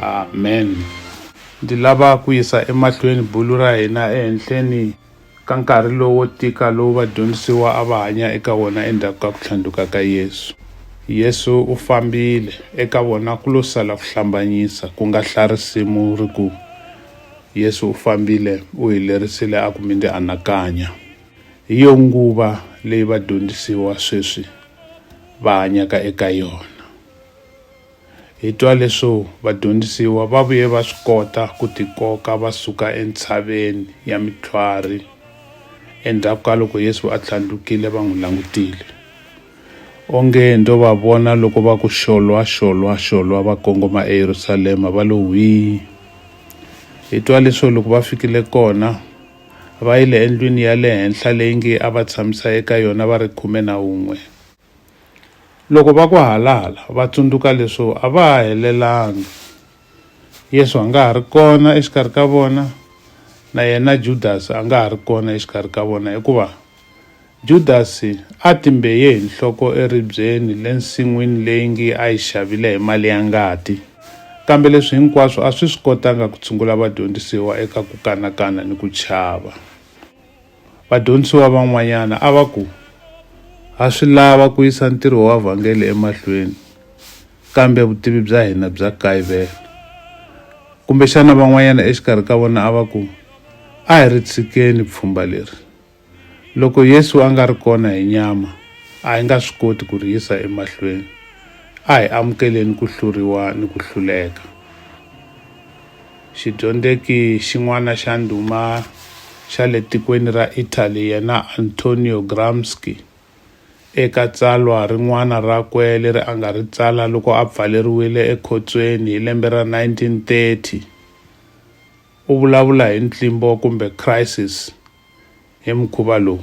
Amen. Ndzi lava ku yisa emahlweni bulu ra hina ehenhleni ka nkarhi lowo tika lowu vadyondzisiwa a va hanya eka wona endzhaku ka ku tlhandluka ka Yesu. Yesu u fambile, eka vona ku lo sala ku hlambanyisa, ku nga hla risimu ri ku, Yesu u fambile, u hi lerisile a ku mi ndzi anakanya. Hi yo nguva leyi vadyondzisiwa sweswi va hanyaka eka yona. Hi twa leswo vadyondzisiwa va vuye va swi kota ku tikoka va suka entshaveni ya mitlhwari endzhaku ka loko Yesu a tlhandlukile va n'wi langutile. Onge ndzo va vona loko va ku xolwa xolwa xolwa va kongoma eYerusalema va lo hwii. Hi twa leswo loko va fikile kona va yile endlwini ya le henhla leyi nge a va tshamisa eka yona va ri khume na un'we. Loko va ku halala, va tsundzuka leswo a va ha helelanga. Yesu a nga ha ri kona exikarhi ka vona, na yena Judasi a nga ha ri kona exikarhi ka vona hikuva Judasi a timbeye hi nhloko eribyeni le nsin'wini leyi ngi a yi xavile hi mali ya ngati. Kambe leswi hinkwaswo a swi swi kotanga ku tshungula vadyondzisiwa eka ku kanakana ni ku chava. Vadyondzisiwa van'wanyana a va ku, Ha swi lava ku yisa ntirho wa vhangeli emahlweni, kambe vutivi bya hina bya kayivela. Kumbexana van'wanyana exikarhi ka vona a va ku, A hi ri tshikeni pfhumba leri. Loko Yesu a nga ri kona hi nyama, a hi nga swi koti ku ri yisa emahlweni. A hi amukeleni ku hluriwa ni ku hluleka. Xidyondzeki xin'wana xa ndhuma xa le tikweni ra Italy yena Antonio Gramsci eka tsalwa rin'wana rakwe leri a nga ri tsala loko a pfaleriwile ekhotsweni hi lembe ra 1930 u vulavula hi ntlimbo kumbe crisis hi mukhuva lowu.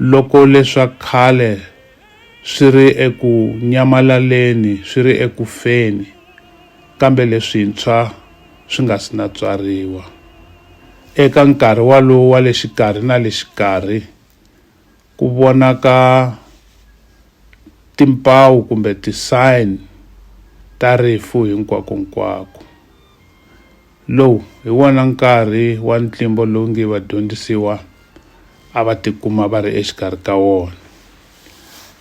Loko leswa khale swi ri eku nyamalaleni, swi ri eku feni, kambe leswintshwa swi nga si na tswariwa. Eka nkarhi walowo wa le xikarhi na le xikarhi, ku vonaka timpawu kumbe ti-sign ta rifu hinkwakonkwako. Lowu hi wona nkarhi wa ntlimbo lowu nge vadyondzisiwa a va tikuma va ri exikarhi ka wona.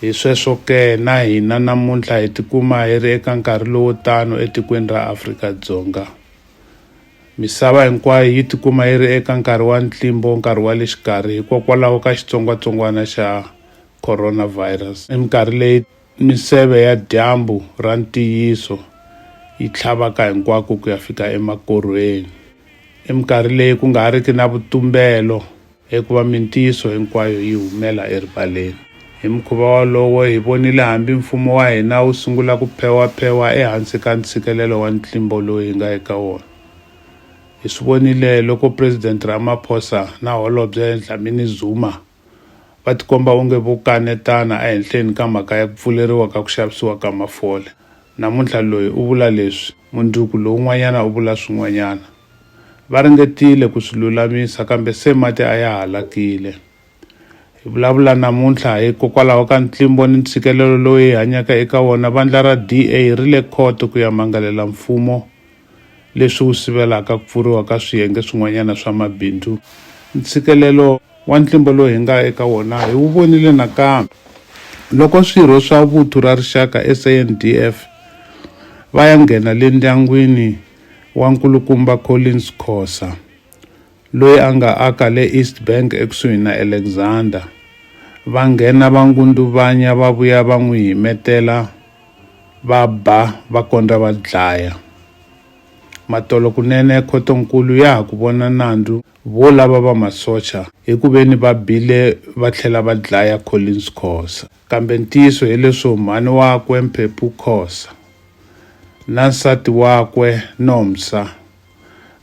Hi sweswo ke, na hina namuntlha hi tikuma hi ri eka nkarhi lowo tano etikweni ra Afrika-Dzonga. Misava hinkwayo yi tikuma yi ri eka nkarhi wa ntlimbo, nkarhi wa le xikarhi, hikokwalaho ka xitsongwatsongwana xa coronavirus. Hi minkarhi leyi. Miseve ya dyambu ra ntiyiso yi tlhavaka hinkwako ku ya fika emakorhweni. I minkarhi leyi ku nga riki na vutumbelo, hikuva mintiyiso hinkwayo yi humela erivaleni. Hi mukhuva wolowo, hi vonile hambi Mfumo wa hina wu sungula ku phewaphewa ehansi ka ntshikelelo wa ntlimbo lowu hi nga eka wona. Hi swi vonile loko Presidente Ramaphosa na Holobye Dlamini Zuma, va tikomba onge vo kanetana ehenhleni ka mhaka ya ku pfuleriwa ka ku xavisiwa ka mafole. Namuntlha loyi u vula leswi, mundzuku lowun'wanyana u vula swin'wanyana. Va ringetile ku swi lulamisa kambe se mati a ya halakile. Hi vulavula namuntlha hikokwalaho ka ntlimbo ni ntshikelelo lowu hi hanyaka eka wona, vandla ra DA ri le khoto ku ya mangalela mfumo leswi wu sivelaka ku pfuriwa ka swiyenge swin'wanyana swa mabindzu. Ntshikelelo wa ntlimbo lowu hi nga eka wona hi wu vonile nakambe loko swirho swa Vuthu ra Rixaka, SANDF, va ya nghena le ndyangwini wa nkulukumba Collins Khosa. loyi a nga aka le East Bank ekusuhi na Alexander. Va nghena va ngunduvanya va vuya va n'wi himetela va ba va kondza va dlaya. Matolo kunene khotonkulu ya ha ku vona nandzu vo lava va masocha hi ku veni va bile va tlhela va dlaya Collins Khosa. Kambe ntiyiso hi leswo mhani wakwe Mphephu Khosa na nsati wakwe Nomsa,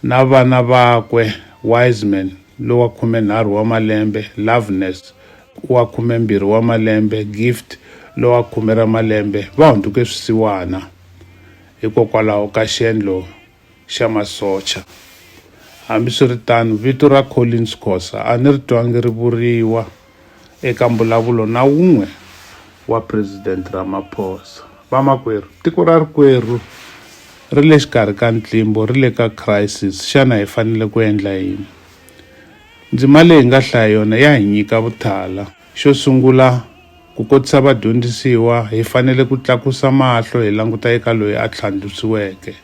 na vana vakwe Wiseman lowa khumenharhu wa malembe, Loveness wa khumembirhi wa malembe, Gift lowa khume ra malembe va hunduke swisiwana hikokwalaho ka xiendlo xa masocha. Hambiswiritano, vito ra Collins Khosa a ni ri twangi ri vuriwa. Eka mbulavulo na wun'we wa President Ramaphosa. Vamakwerhu, tiko ra rikwerhu ri le xikarhi ka ntlimbo, ri le ka crisis. Xana hi fanele ku endla yini? Ndzima leyi hi nga hlaya yona ya hi nyika vuthala. Xo sungula, ku kotisa vadyondzisiwa, hi fanele ku tlakusa mahlo hi languta eka loyi a tlhandlusiweke.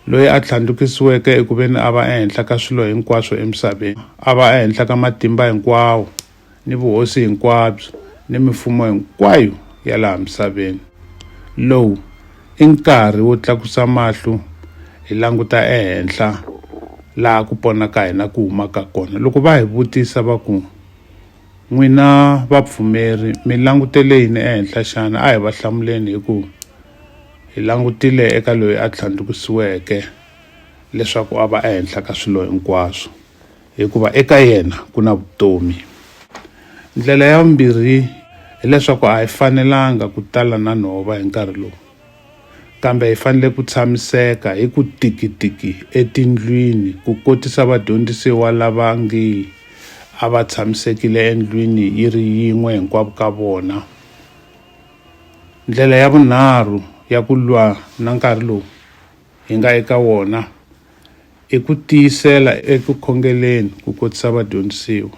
loyi a tlhandlukisiweke eku veni a va ehenhla ka swilo hinkwaswo emisaveni a va ehenhla ka matimba hinkwawo ni vuhosi hinkwabyo ni mifumo hinkwayo ya laha misaveni lowu i nkarhi wo tlakusa mahlo hi languta ehenhla laha ku pona ka hina ku humaka kona loko va hi vutisa va ku n'wina vapfumeri mi langutele yini ehenhla xana a hi va hlamuleni hi ku Hi langutile eka loyi a tlhandlukisiweke leswaku a va ehenhla ka swilo hinkwaswo, hikuva eka yena ku na vutomi. Ndlela ya vumbirhi hileswaku a hi fanelanga ku tala na nhova hi nkarhi lowu, kambe hi fanele ku tshamiseka hi ku tikitiki etindlwini ku kotisa vadyondzisiwa lava ngi a va tshamisekile endlwini yi ri yin'we hinkwavo ka vona. Ndlela ya vunharhu ya ku lwa na nkarhi lowu hi nga eka wona i ku tiyisela eku khongeleni ku kotisa vadyondzisiwa.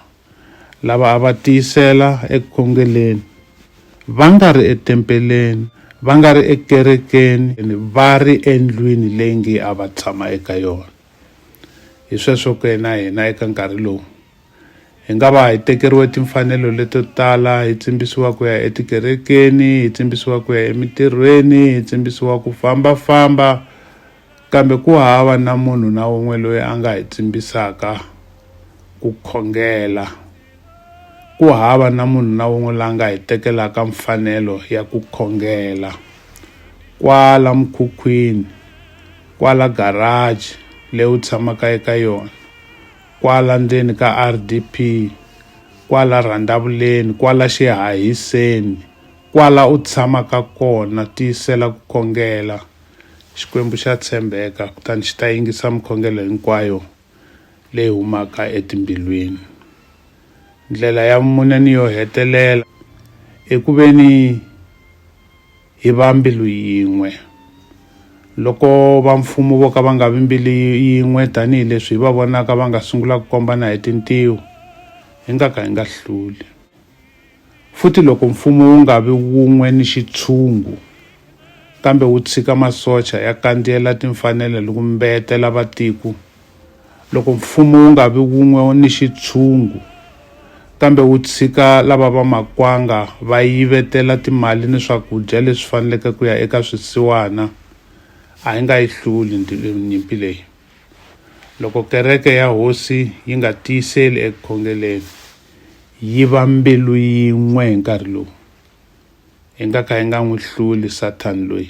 Lava a va tiyisela eku khongeleni va nga ri etempeleni, va nga ri ekerekeni, va ri endlwini leyi nge a va tshama eka yona. Hi sweswo ke na hina eka nkarhi lowu. Hi nga va hi tekeriwe timfanelo leto tala, hi tsimbisiwa ku ya etikerekeni, hi tsimbisiwa ku ya emintirhweni, hi tsimbisiwa ku fambafamba, kambe ku hava na munhu na un'we loyi a nga hi tsimbisaka ku khongela. Ku hava na munhu na un'we la nga hi tekelaka mfanelo ya ku khongela. Kwala mukhukhwini, kwala garaji leyi u tshamaka eka yona, kwala ndzeni ka RDP, kwala rhandavuleni, kwala xihahiseni, kwala u tshamaka kona, tiyisela ku khongela. Xikwembu xa tshembeka, kutani xi ta yingisa mikhongelo hinkwayo leyi humaka etimbilwini. Ndlela ya mune ni yo hetelela i ku ve ni hi va mbilu yin'we. Loko va mfumo vo ka va nga vi mbilu yin'we tanihileswi hi va vonaka va nga sungula ku kombana hi tintiho, hi nga ka hi nga hluli. Futhi loko mfumo wu nga vi wun'we ni xitshungu, kambe wu tshika masocha ya kandziyela timfanelo ni ku mbetela vatiko, Loko mfumo wu nga vi wun'we ni xitshungu kambe wu tshika lava va makwanga va yivetela timali ni swakudya leswi faneleke ku ya eka swisiwana a yi nga yi hluli nyimpi leyi loko kereke ya hosi yi nga tiyiseli eku khongeleni yi va mbilu yin'we hi nkarhi lowu hi nga ka hi nga n'wi hluli sathani loyi